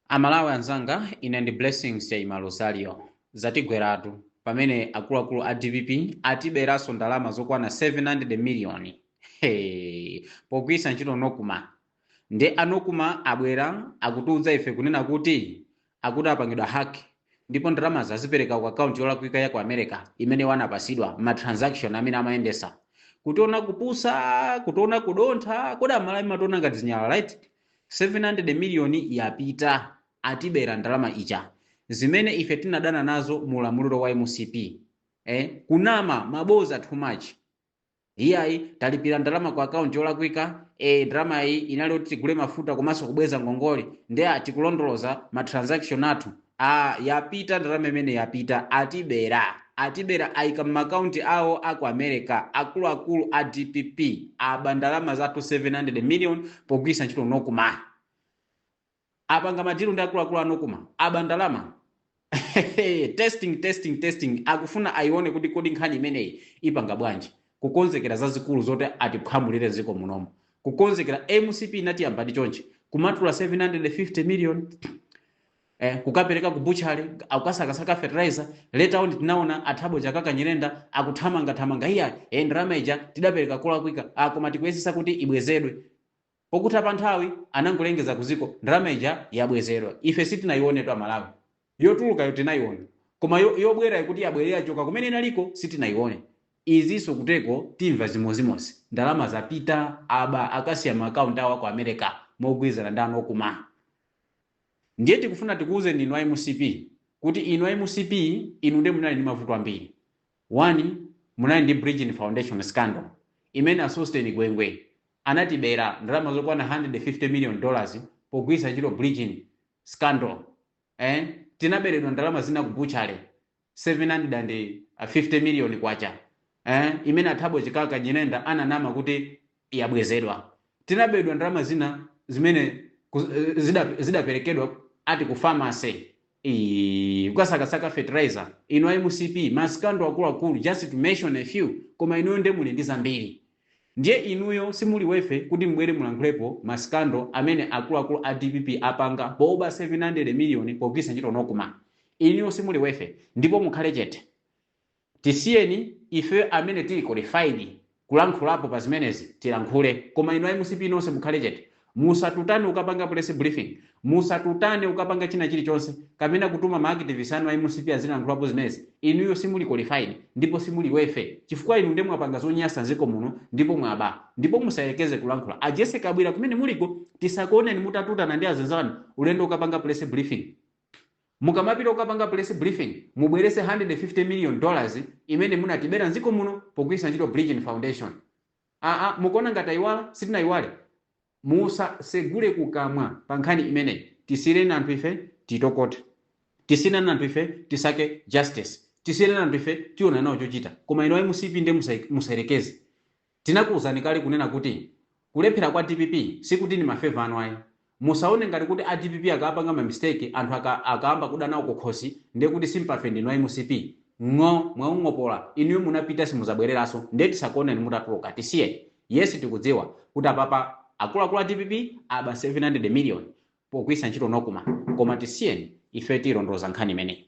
amalawi anzanga ine ndi blessings chaima rosario zatigweratu pamene akuluakulu a dpp atiberanso ndalama zokwana 700 miliyoni hey, pogwiritsa ntchito Nocma nde a Nocma abwera akutiudza ife kunena kuti Akuti apangidwa hack ndipo ndalamazi azipereka ku account yolakwika ya ku America imene iwo anapasidwa m'ma transaction amene amayendesa. Kutiona kupusa, kutiona kudontha, kodi amalawi mationa ngati zinyalala right? 700 million yapita, atibera ndalama ija zimene ife tinadana nazo mu ulamuliro wa mcp. Eh, kunama, maboza too much. iyayi talipira ndalama ku akaunti yolakwika e ndalamayi inali kuti tigule mafuta komanso kubweza ngongole ndi a tikulondoloza ma transaction athu a yapita ndalama imene yapita atibera atibera ayika m'makaunti awo aku america akuluakulu a dpp aba ndalama zathu 700 million pogwiritsa ntchito Nocma apanga madilu ndi akuluakulu a Nocma aba ndalama testing testing testing akufuna ayione kuti kodi nkhani imeneyi ipanga bwanji kukonzekera zazikulu zoti atiphwamulire dziko munomo kukonzekera mcp inatiyambadi chonchi kumatula 750 million eh, kukapereka ku butchery akukasakasaka fertilizer later on tinaona a thabo chakaka nyirenda akuthamangathamanga iyayi ndalama ija tidapereka kolakwika ah, koma tikuyesesa kuti ibwezedwe Pokutha pa nthawi anangolengeza ku ziko ndalama ija yabwezedwa. Ife sitinayionetu a Malawi. Yotulukayo tinayiona. Koma yobwerayo kuti yabwerera yachoka kumene inaliko sitinayione. Izinso kuteko timva zimozimozi. Ndalama zapita, aba akasiya ma account awo aku America mogwirizana ndi a Nocma. Ndiye tikufuna tikuuzeni inu a mcp kuti inu a mcp inu ndiye munali ndi mavuto ambiri. 1 munali ndi bridgin foundation scandal imene a sosten gwengwe anatibera ndalama zokwana 150 million dollars pogwiritsa ntchito bridgin scandal eh tinaberedwa ndalama zina ku butchery 750 million kwacha eh imene a thabo chakaka nyirenda ananama kuti yabwezedwa. Tinaberedwa ndalama zina zimene ku, zida, zidaperekedwa ati ku pharmacy. Iii kukasakasaka fertilizer inu a mcp ma scandal akuluakulu just to mention a few koma inuyo nde muli ndi zambiri. Ndiye inuyo simuli worthy kuti mubwere mulankhulepo ma scandal amene akuluakulu a dpp apanga poba 700 million pogwiritsa ntchito Nocma. Inuyo simuli worthy ndipo mukhale chete. Tisiyeni ife amene tili qualified kulankhulapo pa zimenezi tilankhule koma inu a MCP nonse mukhale chete. Musatutane kukapanga press briefing, musatutane kukapanga china chilichonse kapena kutuma ma activist anu a MCP azilankhulapo zimenezi inuyo simuli qualified ndipo simuli worth chifukwa inu nde mwapanga zonyasa nziko muno ndipo mwaba ndipo musayelekeze kulankhula a Jessie Kabwila kumene muliko tisakuoneni mutatutana ndi azinzanu ulendo kukapanga press briefing. Mukamapita kukapanga press briefing mubweretse 150 million dollars imene munatibera mdziko muno pogwiritsa ntchito Bridgin Foundation. Aaa mukuona ngati taiwala? Sitinaiwale. Musasegule kukamwa pa nkhani imeneyi. Tisiyireni anthu ife titokote. Tisiyireni anthu ife tisake justice. Tisiyireni anthu ife tiona nawo chochita. Koma inu a MCP ndiye musayerekeze. Tinakuuzani kale kunena kuti kulephera kwa DPP sikuti ndi ma favour anu ayi. Musaone ngati kuti a DPP akamapanga ma mistake anthu aka akaamba kuda nawo kukhosi ndiye kuti sympathy ndinu a MCP. Ng'o, mwaung'opola, inuyo munapita simuzabwereranso ndiye tisakuoneni mutatuluka. Tisiyeni. Yes tikudziwa kuti apapa akuluakulu a DPP aba 700 million pogwiritsa ntchito NOCMA koma tisiyeni ife tiilondoloza nkhani imeneyi.